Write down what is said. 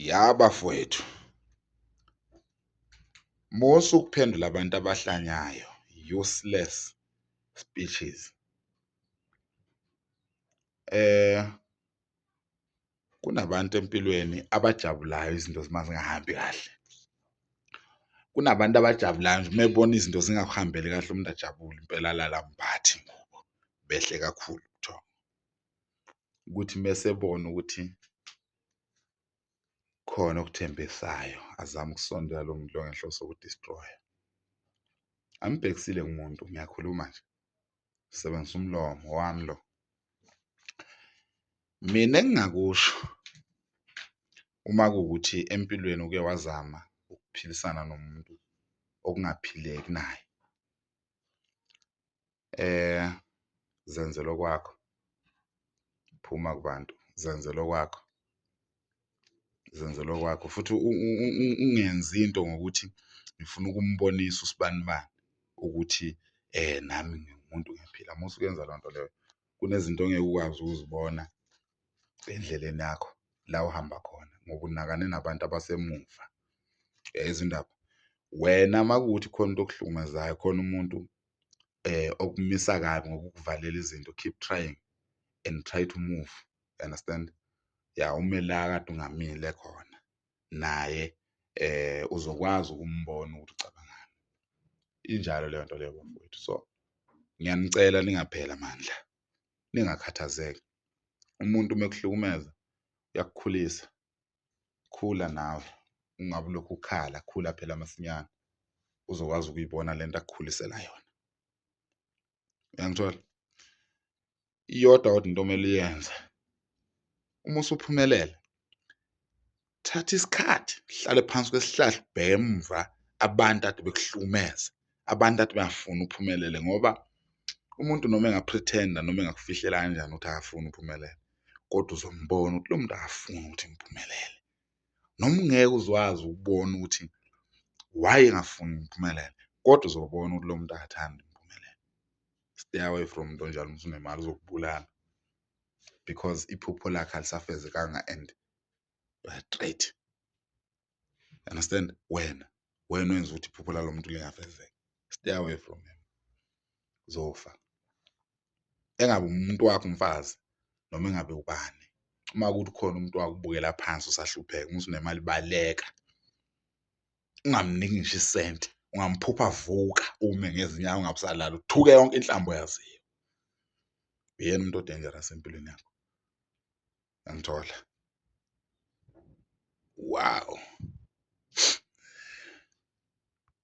Ya bafowethu, musa ukuphendula abantu abahlanyayo, useless speeches. Eh kunabantu empilweni abajabulayo izinto uma zingahambi kahle. Kunabantu abajabulayo nje uma ebona izinto zingakuhambeli kahle umuntu ajabule impela alala mphathi ngoba behle kakhulu ubuthongo. Kuthi uma esebona ukuthi khona okuthembisayo azama ukusondela lo muntu lo ngenhloso yokudistroya angibhekisile kumuntu ngiyakhuluma nje sebenzisa umlomo wami lo mina engingakusho uma kuwukuthi empilweni uke wazama ukuphilisana nomuntu okungaphileki naye Eh zenzele okwakho. Phuma kubantu, zenzele okwakho. Zenzele okwakho futhi ungenzi into ngokuthi ngifuna ukumbonisa usibanibani ukuthi eh nami ngingumuntu ngiyaphila. Uma usuyenza loo nto leyo kunezinto ongeke ukwazi ukuzibona endleleni yakho la uhamba khona ngoba unakane nabantu abasemuva. Uyayizwa indaba? Wena uma kuwukuthi khona into okuhlukumezayo khona umuntu eh okumisa kabi ngokukuvalela izinto keep trying and try to move you understand ya ume la kade ungamile khona naye eh uzokwazi ukumbona ukuthi ucabangani injalo leyo nto leyo bafowethu so ngiyanicela ningaphela amandla ningakhathazeki umuntu uma ekuhlukumeza uyakukhulisa khula nawe ungabe ulokhu ukhala khula phela masinyane uzokwazi ukuyibona lento akukhulisela yona uyangithola iyodwa kodwa into omele uyenze uma usuphumelela thatha isikhathi hlale phansi kwesihlahla ubheke emuva abantu ade bekuhlumeza abantu athi bayafuna uphumelele ngoba umuntu noma engapretenda noma engakufihlela kanjani ukuthi akafuni uphumelele kodwa uzombona ukuthi lo muntu akafuni ukuthi ngiphumelele noma ungeke uzwazi ukubona ukuthi why engafuni ngiphumelele kodwa uzobona ukuthi lo muntu akathandi ngiphumelele stay away from into njalo umuntu unemali uzokubulala because iphupho lakhe alisafezekanga and uyatrayitha. understand wena wena wenza ukuthi iphupho lalo muntu lingafezeki stay away from him uzofa engabe umuntu wakho umfazi noma engabe ubani uma kuthi khona umuntu wakubukela phansi usahlupheka uma usunemali baleka ungamniki ngisho isenti ungamphupha vuka ume ngezinyawo ungabusalala uthuke yonke inhlambo yaziyo uyena umuntu odangerous empilweni yakho yangithola wow.